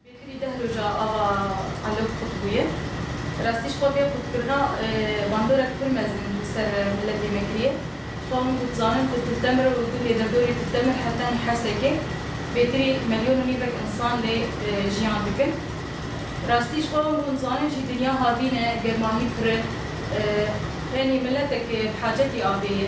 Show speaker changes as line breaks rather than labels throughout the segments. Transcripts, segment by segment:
Bêtivî deh roja ava Alok qut bûye. Bi rastî ji xwe vê qutkirina bandorek pir mezin li ser miletê me kiriye. Xwe hûn ku dizanin ku Til Temir û gundê Derdorê Til Temir her tenê Hersekê bêtirî melyon û nîvek însan lê jiyan dikin. Bi rastî ji xwe hûn ku dizanin jî dinya havîn e, germahî pir e. Tenê miletekê bi hacetî avê ye.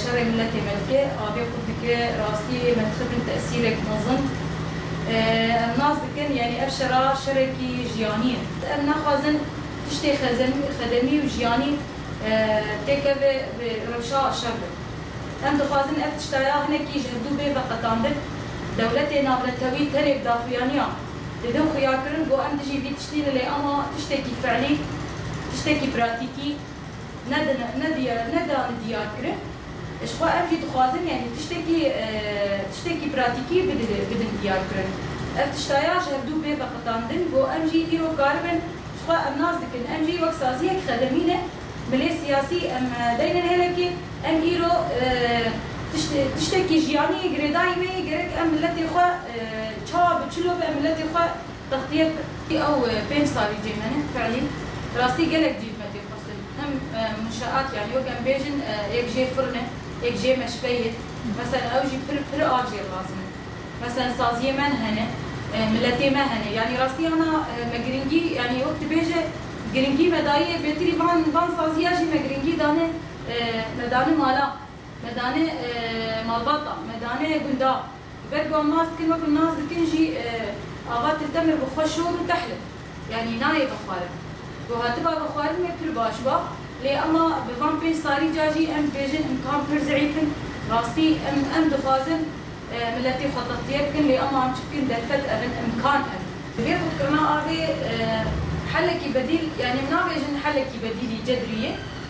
Şerê miletê me dike, avê xwe dike, rastî me dixebin tesîrek mezin. Em nas dikin yanî ev şera şerekî jiyanî ye. Em naxwazin tiştê xedemî û jiyanî têkeve bi rewşa şer be. Em dixwazin ev tişta ya hinekî ji hevdû bê veqetanbin. Dewletê navnetewî tenê bi daxuyaniyan didin xuyakirin ku em dijî vî tiştî ne lê ema tiştekî fe'lî, tiştekî pratîkî, nedane diyarkirin. Ji xwe ev jî dixwazin yanî tiştekî tiştekî pratîkî bidin diyarkirin. Ev tişta ya ji hevdu bê veqitandin ku em jî îro karibin ji xwe em nas dikin. Em jî wek saziyek xedimî ne milê siyasî em deyne hêlekê. Em îro tiştekî jiyanî girêdayî wê ye gerek em miletê xwe çawa bi çil û bi em miletê xwe Textiyek ki ew pênc salî cê mene fiilî rastî gelek cî dime têxwestin. Him munşeat yanî wek em bêjin yek jê firn e, yek jê meşxeyî ye. Meselen ew jî pir pir a jêr lazim in. Meselen saziyê me hene, miletê me hene. Yanî rastî ana me giringî yanî wek dibêje giringî me dayî ye bêtirî van van saziya jî me giringî dane me dane mala. Me dane malbata, me dane gunda. Li ber ku em nas dikin wek li nas dikin jî ava Tiltemir bi xwe şor û tehl in. Yanî nayê vexwarin. Ku hatiba vexwarinê pir baş ba. Lê ema bi van pênc salî ca jî em dibêjin îmkan pir zî'îf in. Rastî em em dixwazin miletê xwe textiye bikin lê ema em çi bikin derfet ev in, îmkan ev in. Di vê xwedikirina avê helekî bedîl yanî em nabêjin helekî bedîlî cedrî ye.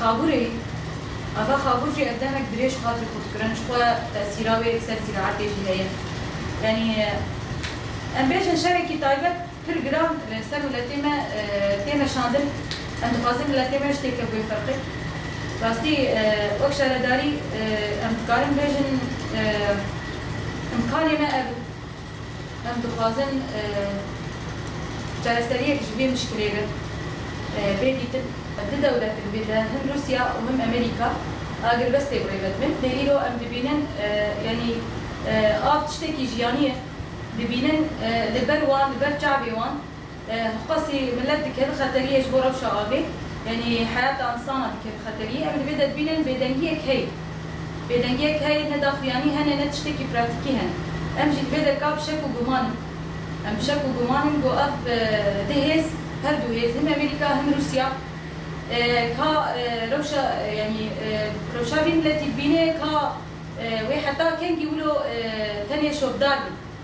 Xabûrê, Ava Xabûr jî ev demek dirêj hat li kurtkirin, ji xwe tesîra wê li ser zîraetê jî heye. Yanî em bêjin şevekî taybet pir giran li ser miletê me tê meşandin. Em dixwazin miletê me ji têkevbûyê xirqe. Rastî wek şaredarî em dikarin bêjin îmkanê me ev in. Em dixwazin çareseriyek ji vê mişkilê re bê dîtin. Du dewlet di vê de him Rûsya û him Amerîka agirvestê bi rê ve dibin. Lê îro em dibînin yanî av tiştekî jiyanî ye. Dibînin li ber wan, li ber çavê wan Xwesî milet dike bi xeteriyê ji bo rewşa avê yanî heyata insana dike bi xeteriyê. Em divê de dibînin bêdengiyek heye. Bêdengiyek heye ne daxuyanî hene ne tiştekî pratîkî hene. Em jî divê de ka bi şek û gumanin em bi şek û gumanin ku ev du hêz her du hêz him Amerîka him Rûsya ka rewşa yanî rewşa vî miletî dibîne ka wê heta kengî wilo tenê şopdar bin.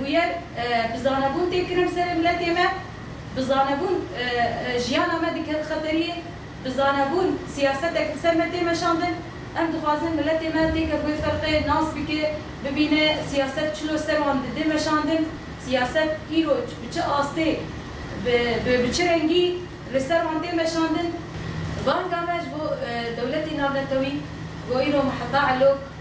Bûyer, bi zanebûn tê kirin serê miletê me, bi zanebûn jiyana me diket xeteriyê, bi zanebûn siyasetek li ser me tê meşandin. Em dixwazin miletê me têke bi wê ferqê nas bike, bibîne siyaset çi lo ser wan didê meşandin, siyaset îro bi çi astê, bi bi çi rengî li ser wan tê meşandin. Banga me ji bo dewletê navnetewî, ji bo îro miheta elok,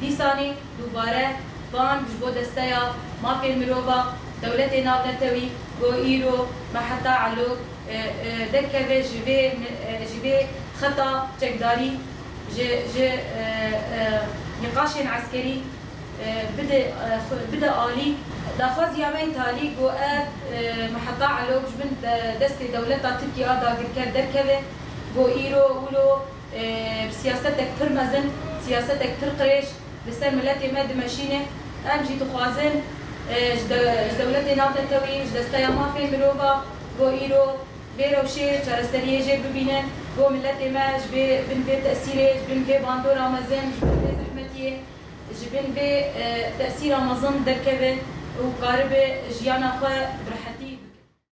Dîsanî dubare bang ji bo desteya mafên mirova dewletê navnetewî ku îro me heta elo derkeve ji vê ji vê xeta çekdarî ji ji nîqaşên eskerî bide bide alî. Daxwaziya me talî ku ev me heta elo ji bin destê dewleta Tirkî a dagirker derkeve ku îro wilo Siyasetek pir mezin, siyasetek pir qirêj li ser miletê me dimeşîne. Em jî dixwazin ji dewletê navnetewî, ji desteya mafên mirova bo îro vê rewşê çareseriyê jê bibînin bo miletê me ji vê bin vê tesîrê, ji bin vê bandora mezin, ji bin vê zehmetiyê, ji bin vê tesîra mezin derkeve û karibe jiyana xwe bi rehetî bikin.